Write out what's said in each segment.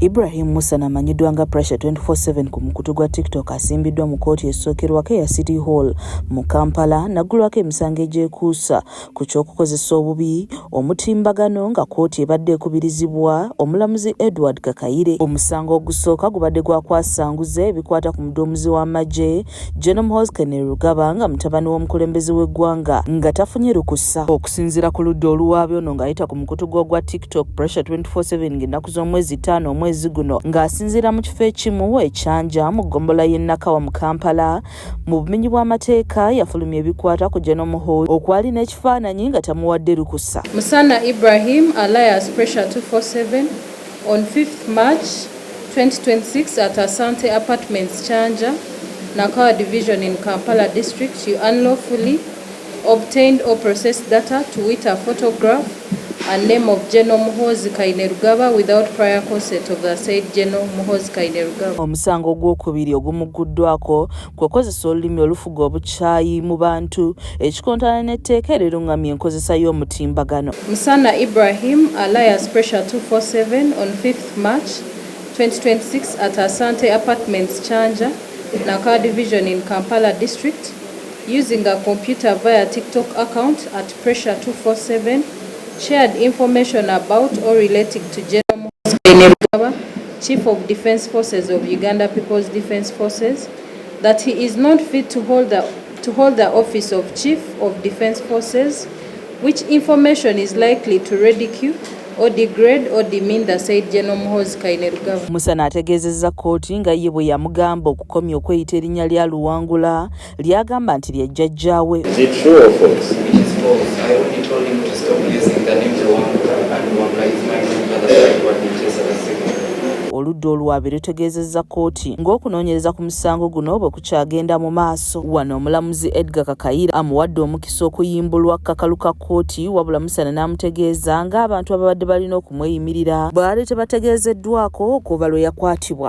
Ibrahim Musa namanyiddwa nga Pressure 24/7 ku mukutu gwa TikTok asimbiddwa mu kooti esookerwako eya City Hall mu Kampala naggulwako emisango egyekuusa ku ky'okukozesa obubi omutimbagano nga kooti ebadde ekubirizibwa omulamuzi Edward Kakayire. Omusango ogusooka gubadde gwa kwasanguza ebikwata ku muduumuzi w'amagye Gen Muhoozi Kainerugaba nga mutabani w'omukulembeze w'eggwanga nga tafunye lukusa. Okusinzira ku ludda oluwaabi ono ng'ayita ku mukutu gwe ogwa TikTok Pressure 247 ng'ennaku z'omwezi ttaano omwezi guno ng'asinziira mu kifo ekimu e Kyanja mu ggombola y'e Nakawa mu Kampala mu bumenyi bw'amateeka yafulumya ebikwata ku Gen Muhoozi okwali n'ekifaananyi nga tamuwadde lukusa. Musana Ibrahim alias Pressure 247 on 5th March 2026 at Asante Apartments Kyanja, Nakawa Division in Kampala District, you unlawfully obtained or processed data to wit a photograph and name of General Muhoozi Kainerugaba without prior consent of the said General Muhoozi Kainerugaba. Omusango ogwokubiri ogumugguddwako kwe kozesa olulimi olufuga obukyayi mu bantu ekikontana n'etteeka erirungamya enkozesa y'omutimbagano. Musana Ibrahim alias Pressure 247 on 5th March 2026 at Asante Apartments Kyanja, Nakawa Division in Kampala District using a computer via TikTok account at Pressure 247 shared information about or relating to General Muhoozi Kainerugaba Chief of Defence Forces of Uganda People's Defence Forces that he is not fit to hold the, to hold the office of Chief of Defence Forces which information is likely to ridicule or degrade or demean the said General Muhoozi Kainerugaba. Musana ategeezezza kkooti nga ye bwe yamugamba okukomya okweyita erinnya lya Luwangula ly'agamba nti lya jjajjaawe. oludda oluwaabi lutegeezezza kkooti ng'okunoonyereza ku musango guno bwe kukyagenda mu maaso wano omulamuzi edgar kakayira amuwadde omukisa okuyimbulwa kakalu ka kkooti wabula musana n'amutegeeza ng'abantu ababadde balina okumweyimirira baali tebategeezeddwako okuva lwe yakwatibwa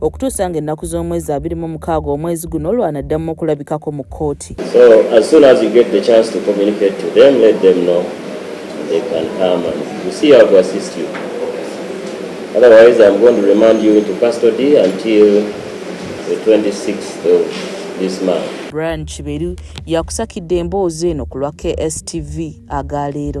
okutuusa nga ennaku z'omwezi abiri mu mukaaga omwezi guno lwanaddamu okulabikako mu kkooti Otherwise, I'm going to remand you into custody until the 26th of this month. Brian Kiberu yakusakidde emboozi eno ku lwa KSTV aga leero.